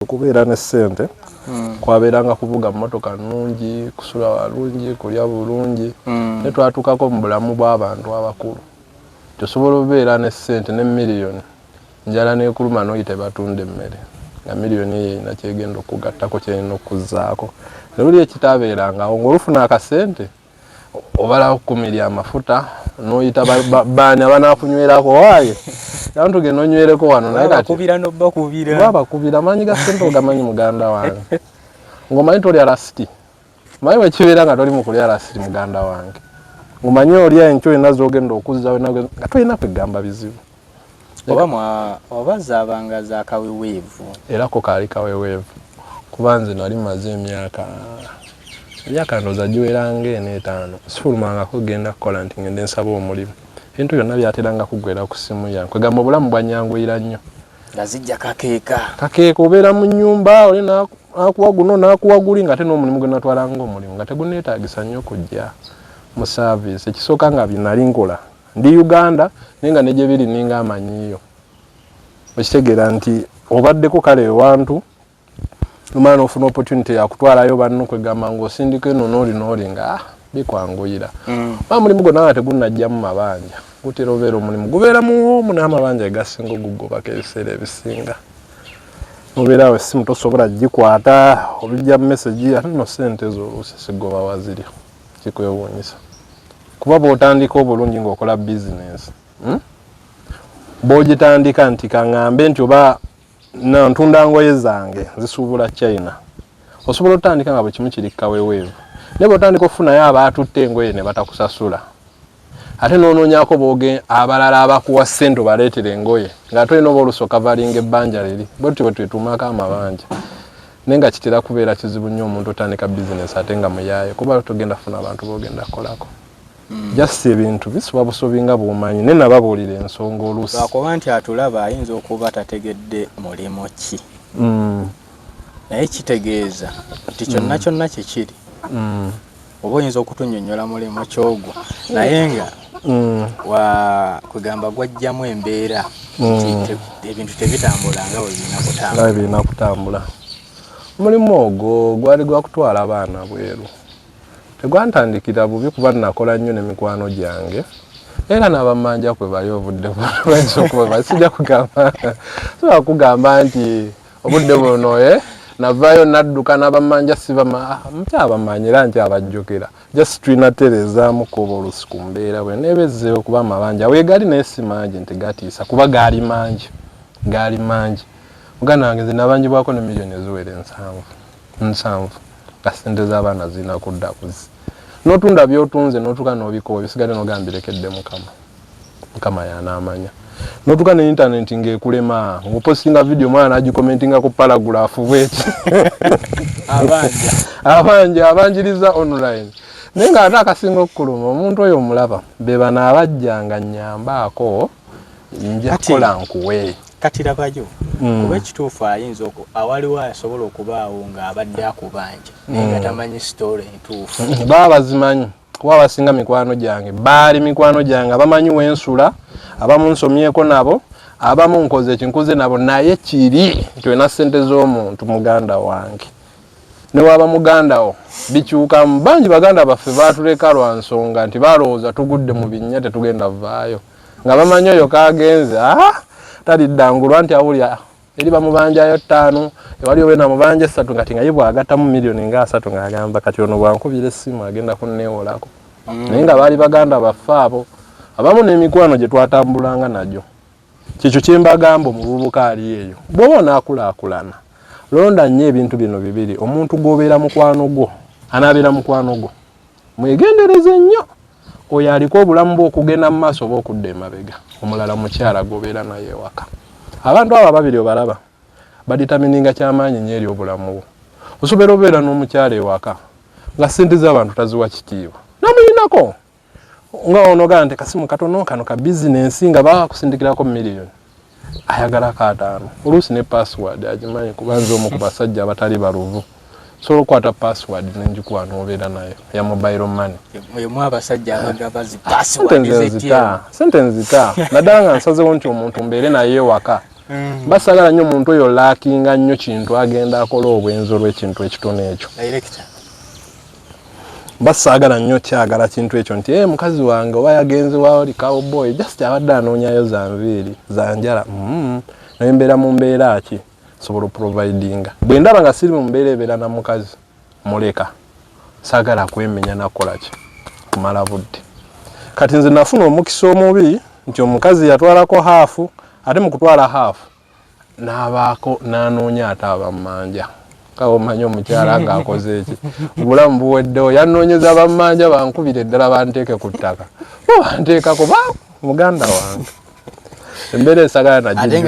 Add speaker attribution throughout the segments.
Speaker 1: okubeera ne ssente hmm. kwabeeranga kuvuga mmotoka nnungi kusula walungi kulya bulungi hmm. ne twatuukako mu bulamu bw'abantu abakulu tosobola obeera ne ssente ne miliyoni njala nekuluma noyi tebatunda emmere nga miliyoni eyo erina kyegenda okugattako kyerina okuzaako nobuli ekitaabeerangawo ngaolufuna akasente obala kukumira amafuta noyita bani abanakunywerako waye naye tugenda onywereko wano naye kakubira nobakubira babakubira amanyi ga sente ogamanyi muganda wange ngomanyi tolya lasiti manyi wekibeera nga toli mukulya lasiti muganda wange ngomanyi olya enkyo olina zogenda okuzza nga tolina kwegamba bizibu oba mwa
Speaker 2: oba zabanga za kaweweevu era ko kaali
Speaker 1: kaweweevu kuba nze nali maze emyaka emyaka ndooza giwera nga eno etaano sifulumangako genda kukola nti ngende nsaba omulimu ebintu byonna byateranga kuggwera ku simu yange kwegamba obulamu bwanyanguyira nnyo nga zijja
Speaker 2: kakeeka kakeeka obeera mu
Speaker 1: nyumba oli nakuwa guno nakuwa guli nga ate n'omulimu gwe natwalanga omulimu nga teguneetagisa nnyo kujja mu saaviisi ekisooka nga byenali nkola Ndi Uganda naye nga ne gye biri ninga amanyiiyo. Okitegeera nti obaddeko kale ewantu nomala n'ofuna opportunity ya kutwalayo banno kwegamba ng'osindika eno n'oli n'oli nga ah, bikwanguyira. Mm. Ba mulimu gwonna nga tegunnajjamu mabanja gutera obeera omulimu gubeera muwoomu n'amabanja egasinga ogugobako ebiseera ebisinga. Obeera awo essimu tosobola gikwata olujja message ate no ssente ezo oluusi sigoba waziri. kikwewuunyisa kuba bw'otandika obulungi ng'okola bizinensi hmm? bw'ogitandika nti kaŋambe nti oba ntunda ngoye zange zisuubula china osobola otandika nga bwe kimu kiri kaweweevu naye bw'otandika okufunayo abaatutte engoye ne batakusasula ate nonoonyako booge abalala abakuwa ssente obaleetera engoye ng'ate olina oba oluusi okavalinga ebbanja liri bwetutyo bwe twetuumako amabanja naye nga kitera kubeera kizibu nnyo omuntu otandika bizinesi ate nga muyaaye kuba togenda funa abantu bogenda kukolako hmm. just ebintu bisuba busubi nga bwomanyi naye nababuulira ensonga oluusi lwakuba nti atulaba
Speaker 2: ayinza okuba tategedde mulimu ki hmm. naye kitegeeza nti kyonna hmm. kyonna kyekiri oba oyinza okutunyonyola mulimu ki ogwo naye nga mm. kwegamba gwajjamu embeera mm. ebintu tebitambula nga webirina kutambula omulimu
Speaker 1: ogwo gwali gwakutwala abaana bweru tegwantandikira bubi kuba nakola nnyo nemikwano gyange era nabamanja kwe bali obudde bayinza okuba basijja kugamba siba kugamba nti obudde buno eh? navaayo nadduka nabamanja sibama nkyabamanya era nkyabajjukira just tulina terezaamu kuba olusi ku mbeera bwe neeba ezzeewo kuba amabanja weegali naye si mangi nti gatiisa kuba gaali mangi gaali mangi muganda wange nze nabanjibwako ne miliyoni eziwera ensanvu nsanvu nga sente z'abaana zirina kudda kuzi notunda byotunze notuka nobikuba bisigale nogambirekedde mukama mukama yanamanya notuka ne internet nga ekulema nga opostinga video mwana nagikomentinga ku paragraph bweti abanja abanja abanjiriza online naye nga ate akasinga okukuluma omuntu oyo omulaba bebano abajjanga nyambaako njakukola nkuwe kati labayo
Speaker 2: mm. kuba ekituufu ayinza oku awaliwo asobola okubaawo ng'abadde akubanja naye nga mm. tamanyi sitoola entuufu baba bazimanyi
Speaker 1: kuba abasinga mikwano gyange baali mikwano gyange abamanyi wensula abamu nsomyeko nabo abamu nkoze ekinkuze nabo naye kiri nti olina sente z'omuntu muganda wange newaba mugandawo bikyukamu bangi baganda baffe batuleka lwa nsonga nti balowooza tugudde mu binnya tetugenda vaayo nga bamanyi oyo kagenze ah, taliddangulwa nti awulira eri bamubanjayo ttaano ewali owe namubanja essatu kati nga ye bwagattamu miliyoni nga asatu ng'agamba kati ono bwankubira essimu agenda kunneewolako mm. naye nga baali baganda baffe abo abamu n'emikwano gye twatambulanga nagyo kyekyo kye mbagamba omuvubuka ali eyo bw'oba onaakulaakulana londa nnyo ebintu bino bibiri omuntu gw'obeera mukwano gwo anaabeera mukwano gwo mwegendereze nnyo oyo aliko obulamu bwokugenda mu maaso oba okudda emabega omulala mukyala gobeera naye ewaka abantu abo ababiri obalaba baditamininga kyamaanyi nyo eri obulamu bwo osobola obeera n'omukyala ewaka nga sente z'abantu taziwa kitiibwa namuyinako nga onogaa nti kasimu katono kano ka bizinensi nga bakusindikirako miliyoni ayagala kaataano oluusi ne password agimanyi kuba nze omu ku basajja abatali baluvu sobola okukwata password nengikuwa nobeera nayo ya mobile money sente nzita naddala nga nsazewo nti omuntu mbeere naye ewaka mm. basagala nnyo omuntu oyo lakinga nnyo kintu agenda akola obwenzi olwekintu ekitono ekyo basaagala nnyo kyagala kintu ekyo nti e mukazi wange oba yagenze waoli cowboy just abadde anoonyayo za nviiri za njala mm-hmm. naye mbeera mu mbeera ki sobola oprovidinga bwe ndaba nga siri mu mbeera ebeera na mukazi muleka saagala kwemenya nakukola ki kumala budde kati nze nafuna omukisa omubi nti omukazi yatwalako haafu ate mu kutwala haafu n'abaako n'anoonya ate abammanja kaba omanyi omukyala ng'akoze eki obulamu buweddewo yanoonyeza bammanja bankubire eddala banteeke ku ttaka bo banteeka kuba muganda wange embeera esagala naate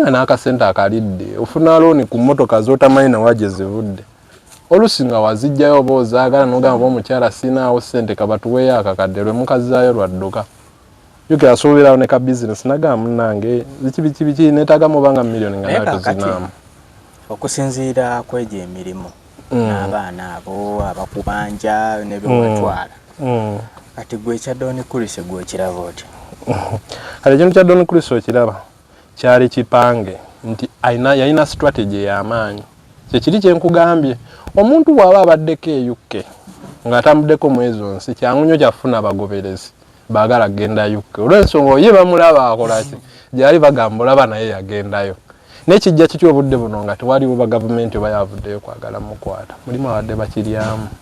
Speaker 2: nga n'akasente
Speaker 1: akalidde ofuna looni ku mmotoka z'otamanyi nawa gye zivudde olusi nga wazijjayo oba ozaagala nogamba ba omukyala siinaawo sente kabatuweeyo akakadde lwe mukazaayo lwadduka Yuki asuubirawo ne ka bizinesi nagaa munnange biki biki biki neetaagamu oba nga milioni nga nawe tuzinaamu. Okusinziira
Speaker 2: ku egyo emirimu mm. n'abaana abo abakubanja ne bye watwala mm. mm. kati gwe ekya Don Chris gwe okiraba otya? Kati
Speaker 1: ekintu kya Don Chris okiraba kyali kipange nti alina yalina strategy ey'amaanyi kyekiri kye nkugambye omuntu bw'aba abaddeko eyukke ng'atambuddeko mwezi onsi kyangu nnyo kyafuna abagoberezi. bagala kugenda UK olwensonga oye bamulaba akolaki gyali bagamba olaba naye yagendayo nekijja kiki obudde buno nga tewaliwo bagavumenti oba yavuddeyo kwagala mukwata mulimu abadde bakiryamu